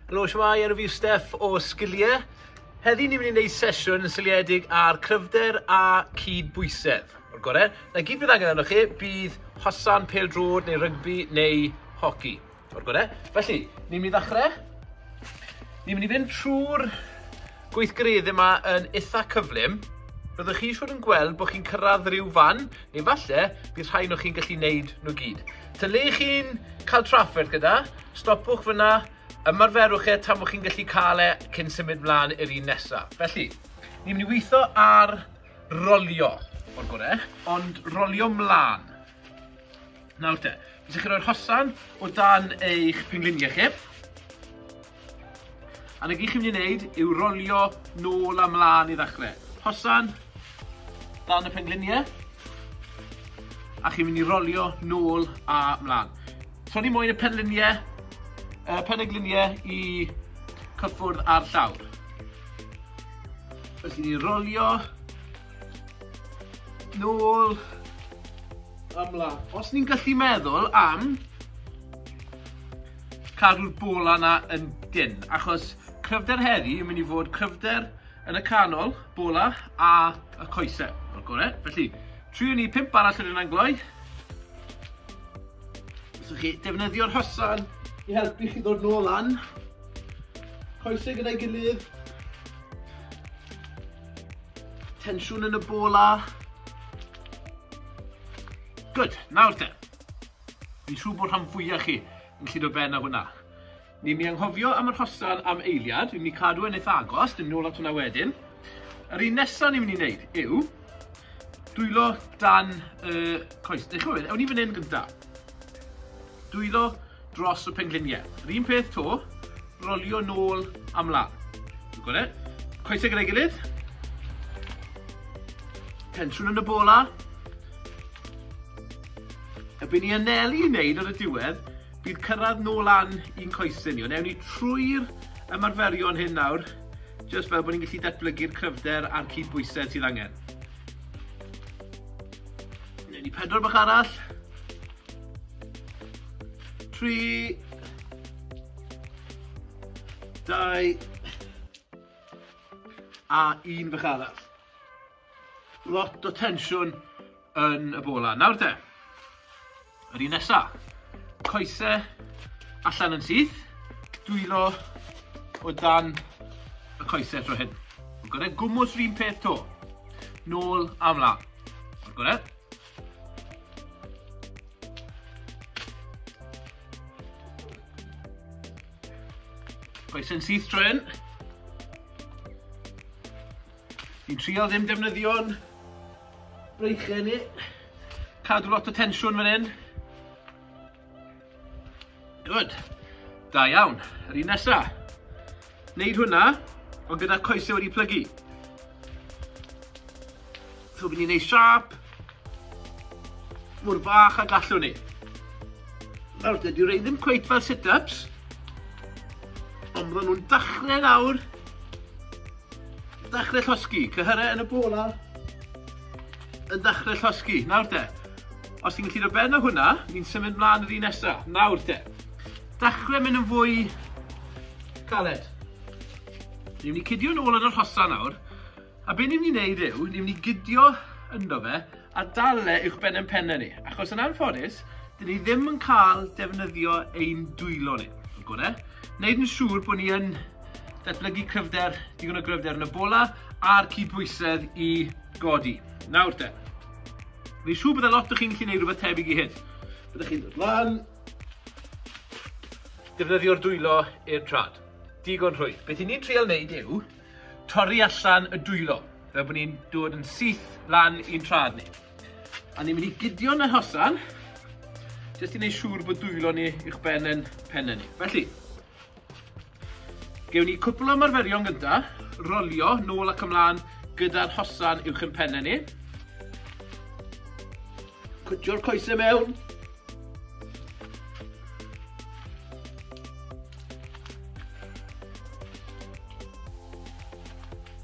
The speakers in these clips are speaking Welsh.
Helo, siwmai, enw fi yw Steff o Sgiliau. Heddi ni'n mynd i wneud sesiwn yn syliedig ar cryfder a cyd bwysedd. O'r gorau, na gyd bydd angen arnoch chi bydd hosan, pel drod neu rygbi neu hoci. O'r gore. Felly, ni'n mynd i ddechrau. Ni'n mynd i fynd trwy'r gweithgareddau yma yn eitha cyflym. Byddwch chi siwr yn gweld bod chi'n cyrraedd rhyw fan, neu falle bydd rhai nhw chi'n gallu neud nhw gyd. Ta le chi'n cael trafferth gyda, stopwch fyna, ymarferwch e tan bod chi'n gallu cael e cyn symud mlaen i'r un nesaf. Felly, ni'n mynd i weithio ar rolio o'r gorau, ond rolio mlaen. Nawr te, byddwch chi'n rhoi'r hosan o dan eich pengliniau chi. A na gyd chi'n mynd i wneud yw rolio nôl a mlaen i ddechrau. Hosan, dan y pengliniau. A chi'n mynd i rolio nôl a mlaen. So ni moyn y pengliniau, uh, pengliniau i cyffwrdd ar llawr. Felly ni'n rolio Nôl ymlaen. Os ni'n gallu meddwl am cadw'r bola yna yn dyn, achos cryfder heddi yn mynd i fod cryfder yn y canol, bola a y coesau, o'r gorau. Felly, triwn ni pimp arall yn yna'n gloi. Os ydych chi defnyddio'r hysan i helpu chi ddod nôl lan, coesau gyda'i gilydd, Tensiwn yn y bola. Good, nawr te. Fi'n siŵr bod rhan fwyaf chi yn llyd o ben â hwnna. Ni'n mi anghofio am yr hosan am eiliad, ni'n mi cadw yn eitha agos, dim nôl at hwnna wedyn. Yr un nesaf ni'n mynd i wneud yw dwylo dan y uh, coes. Dych chi'n meddwl, ewn ni fan hyn gyntaf. Dwylo dros y pengliniau. Yr un peth to, rolio nôl a mlaen. Dwi'n gweld e. Coesau gyda'i gilydd. Tensiwn yn y bola. Y byn ni anelu i wneud ar y diwedd, bydd cyrraedd nôl lan i'n coesau ni. Ond ewn ni trwy'r ymarferion hyn nawr, jyst fel bod ni'n gallu datblygu'r cryfder a'r cyd bwysau sydd angen. Newn ni pedwar bach arall. Tri. Dau. A un bach arall. Lot o tensiwn yn y bola. Nawr te. Yr un nesa. Coese allan yn syth. Dwylo o dan y coese tro hyn. Gorau gwmwys rhywun peth to. Nôl am la. Gorau. Coesau'n syth tro hyn. Fi'n trial ddim defnyddio'n Breichiau ni. Cadw lot o tensiwn fan hyn. Good. Da iawn. Yr un nesa. Neud hwnna, ond gyda coesau wedi plygu. So fi'n ni'n neud siap. Mwyr bach a gallwn ni. Nawr, dydy rei ddim cweith fel sit-ups. Ond maen nhw'n dachrau nawr Dachrau llosgi, cyhyrau yn y bola. Yn dachrau llosgi, nawr de. Os ti'n gallu rhoi ben o hwnna, ni'n symud mlaen yr un nesaf, nawr de. Dachrau mynd yn fwy caled. Ni'n mynd i cydio yn ôl yn yr hosa nawr, a be ni'n mynd i wneud yw, ni'n mynd i gydio ynddo fe, a dalle uwchben ein pennau ni, achos yn anffodus, dyn ni ddim yn cael defnyddio ein dwylo ni, yn gore. Wneud yn siŵr bod ni yn datblygu cryfder, digon o gryfder yn y bola, a'r cydbwysedd i godi. Nawr te, fi'n siŵr bod y lot o chi'n gallu gwneud rhywbeth tebyg i hyn. Byddwch chi'n dod lan, defnyddio'r dwylo i'r trad. Digon rhwydd. Beth i ni'n trial wneud yw, Torri allan y dwylo, fel bod ni'n dod yn syth lan i'n traed ni. A ni'n mynd i gydio'n y hosan, jyst i wneud siŵr bod dwylo ni i'ch ben yn pen ni. Felly, gewn ni cwpl o marferion gynta, rolio nôl ac ymlaen gyda'r hosan uwch yn penne ni. Cwtio'r coesau mewn.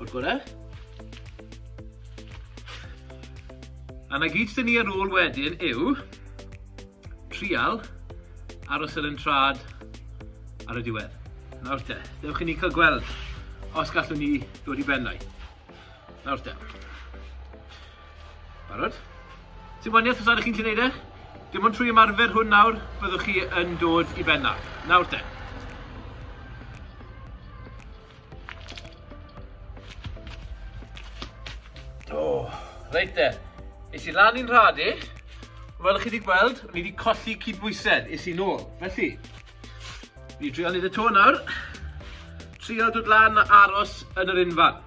O'r gorau. A na gyd sy'n ni ar ôl wedyn yw trial aros ar yn trad ar y diwedd. Nawr te, dewch i ni cael gweld os gallwn ni dod i bennau. Nawr te. Barod? Ti'n waniaeth os ydych chi'n gallu gwneud e? Dim ond trwy ymarfer hwn nawr, byddwch chi yn dod i benna. Nawr te. O, oh, reit te. Is i lan i'n rhad i. Fel ych chi wedi gweld, ni wedi colli cydbwysedd, is i nôl. Felly, ni drio wneud y to nawr. Trio dod lan a aros yn yr unfan.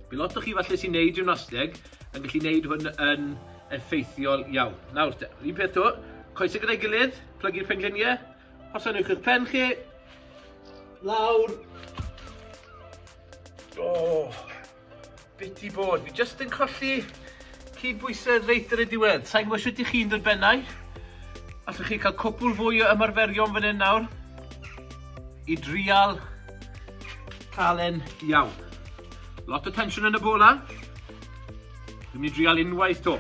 Bydd lot o chi falle sy'n neud gymnasteg yn gallu neud hwn yn effeithiol iawn. Nawr te, un peth to, coesau gyda'i gilydd, plygu'r pengliniau, os anwch chi'ch pen chi, lawr. O, oh, bit i bod, fi jyst yn colli Cydbwysedd reit ar y diwedd. Sa i'n gwybod sut 'y chi'n dy bennau. Allwch chi cael cwpwl fwy o ymarferion fan hyn nawr i drial cael e'n iawn. Lot o tensiwn yn y bola. Dwi'n mynd i drial unwaith to.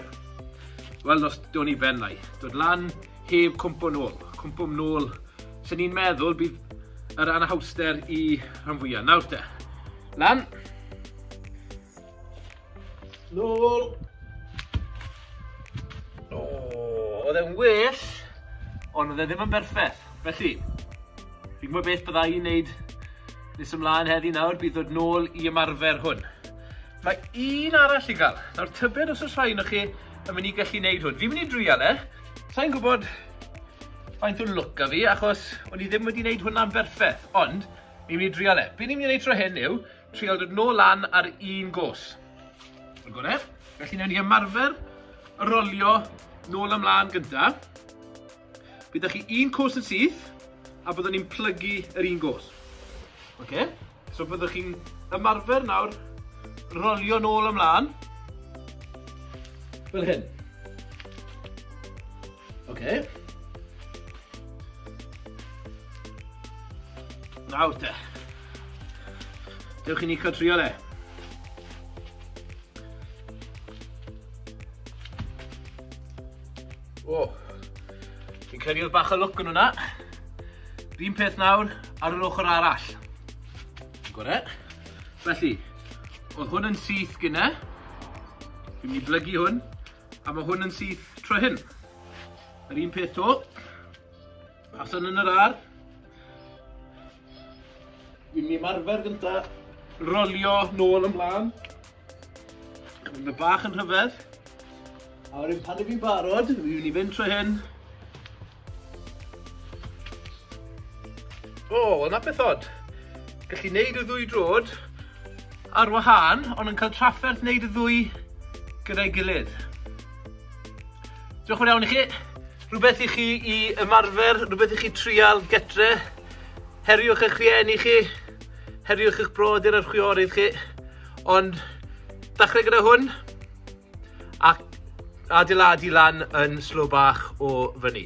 Wel, os do'n i ben lai. Dod lan heb cwmpo nôl. Cwmpo nôl. Sa'n i'n meddwl bydd yr anhawster i rhan fwyaf. Nawr te. Lan. Nôl! O, oedd e'n well, ond oedd e ddim yn berffaith. Felly, fi'n gwybod beth bydda i'n neud nes ymlaen heddi nawr, bydd dod nôl i ymarfer hwn. Mae un arall i gael. Nawr, tybed os oes rhai yno chi yn mynd i gallu gwneud hwn. Fi'n mynd i drial e. Sa'n gwybod faint o'n look a fi, achos o'n i ddim wedi gwneud hwnna'n berffaith. Ond, ni'n mynd i drial e. Be ni'n mynd i wneud tro hyn yw, Trial dod nôl lan ar un gos. Yn gore. Felly newn ni ymarfer rolio nôl ymlaen gynta. Byddwch chi un cwrs yn syth, a byddwn ni'n plygu yr un gos. Okay. So byddwch chi'n ymarfer nawr rolio nôl ymlaen. Fel hyn. Oce. Nawr te. Dewch i ni cael trio le. O, fi'n credu oedd bach o lwc yn hwnna. Rhyn peth nawr ar yr ochr arall. Gore. Felly, oedd hwn yn syth gyna. Dwi'n mynd i blygu hwn. A mae hwn yn syth tro hyn. Yr un peth to. Pasan yn yr ar. Dwi'n mynd i marfer gynta. Rolio nôl ymlaen. Mae bach yn rhyfedd. A wedyn pan ydw i'n barod, fi'n mynd i fynd tro hyn. O, oh, yna beth od. Gallu neud y ddwy drod ar wahân, ond yn cael trafferth neud y ddwy gyda'i gilydd. Diolch yn iawn i chi. Rhywbeth i chi i ymarfer, rhywbeth i chi trial getre. Heriwch eich rhieni chi, heriwch eich brodyr a'r chwiorydd chi. Ond, dachrau gyda hwn, Ac adeiladu lan yn slo bach o fyny.